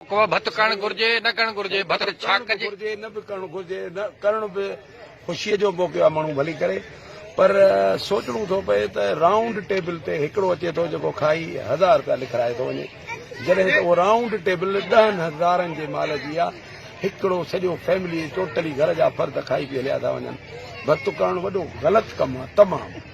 ڪو ڀت ڪرڻ گهرجي، نه ڪرڻ گهرجي، ڀت ته ڇا ڪجي. ڀت ڪرڻ به گهرجي، نه به ڪرڻ گهرجي، نه ڪرڻ به خوشيء جو موقعو آهي، ماڻهو ڀلي ڪري، پر سوچڻو ٿو پئي ته رائونڊ ٽيبل تي هڪڙو اچي ٿو جيڪو کائي هزار رپيا لکرائي ٿو وڃي، جڏهن ته اها رائونڊ ٽيبل ڏهن هزارن جي مال جي آهي، هڪڙو سڄو فيملي ٽوٽلي گهر جا فرد کائي پي هليا ٿا وڃن، ڀت ڪرڻ وڏو غلط ڪم آهي، تمام.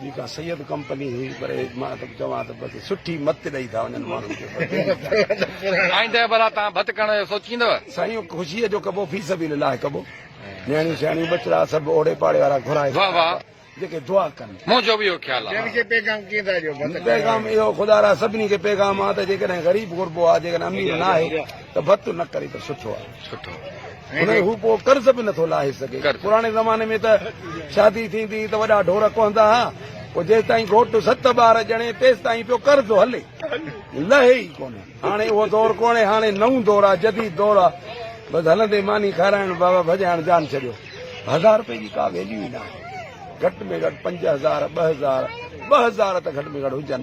جي ڪا سيد ڪمپني هئي پر مان ته چوان ته بس سٺي مت ڏئي ٿا وڃن ماڻهن کي آئنده ڀلا تان ڀت ڪرڻ جو سوچيندو سائين خوشي جو ڪبو في سبيل الله ڪبو نياڻيون سياڻيون ٻچڙا سڀ اوڙي پاڙي وارا گهرائي واھ واھ جيڪي دعا ڪن منهنجو به اهو خيال آهي جن کي پيغام ڪين ٿا ڏيو پيغام اهو خدا را سڀني کي پيغام آ ته جيڪڏهن غريب گهربو آ جيڪڏهن امير ناهي ته ڀت نه ڪري ته سٺو آهي. سٺو هونئن هو پوء قرض به نٿو لاهي سگهي. پراڻي زماني ۾ ته شادي ٿيندي هئي ته وڏا ڍور ڪهندا ها پوء جيستائين گهوٽ ست ٻار ڄڻي تيستائين پيو قرض هلي لهي ئي ڪونه. هاڻي اهو دور ڪونهي هاڻي نئون دور آهي جديد دور آهي بس هلندي ماني کارائڻ بابا ڀڄائڻ جان ڇڏيو. هزار رپئي جي ڪا ويليو ئي ناهي گهٽ ۾ گهٽ پنج هزار ٻه هزار ٻه هزار ته گهٽ ۾ گهٽ هجن.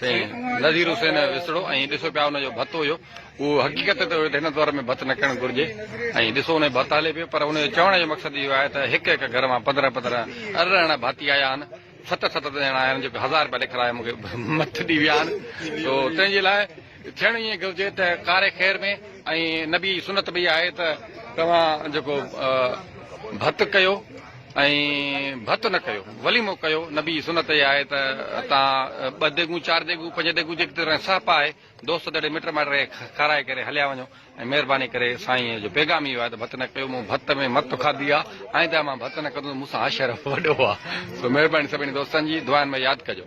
سائين نذير حسين وسڙو ۽ ڏسو پيا ان جو ڀت هيو اهو حقيقت ته هن دور ۾ ڀت نه ڪرڻ گهرجي ۽ ڏسو ان جو ڀت هلي پيو پر ان جو چوڻ جو مقصد اهو آهي ته هڪ هڪ گهر مان پندرهن پندرهن ارڙهن ڀاتي آيا آهن ست ست ڄڻا آيا آهن جيڪي هزار رپيا لکرايا مون کي مٿ ڏي ويا آهن تو تنهن جي لاء ٿيڻ ائين گهرجي ته ڪاري خير ۾ ۽ نبي جي سنت به اها آهي ته توهان جيڪو ڀت ڪيو ۽ ڀت نه ڪيو وليمو ڪيو نبي جي سنت اها آهي ته تان ٻه ديگون چار ديگون پنج ديگون جيڪي ترين سهپ آهي دوست دڙي مٽ مائٽ رهي کارائي ڪري هليا وڃو ۽ مهرباني ڪري سائين جو پيغام اهو آهي ته ڀت نه ڪيو مون ڀت ۾ مت کاڌي آهي آئنده مان ڀت نه ڪندو مون سان عاشر وڏو آهي سو مهرباني سڀني دوستن جي دعائن ۾ ياد ڪجو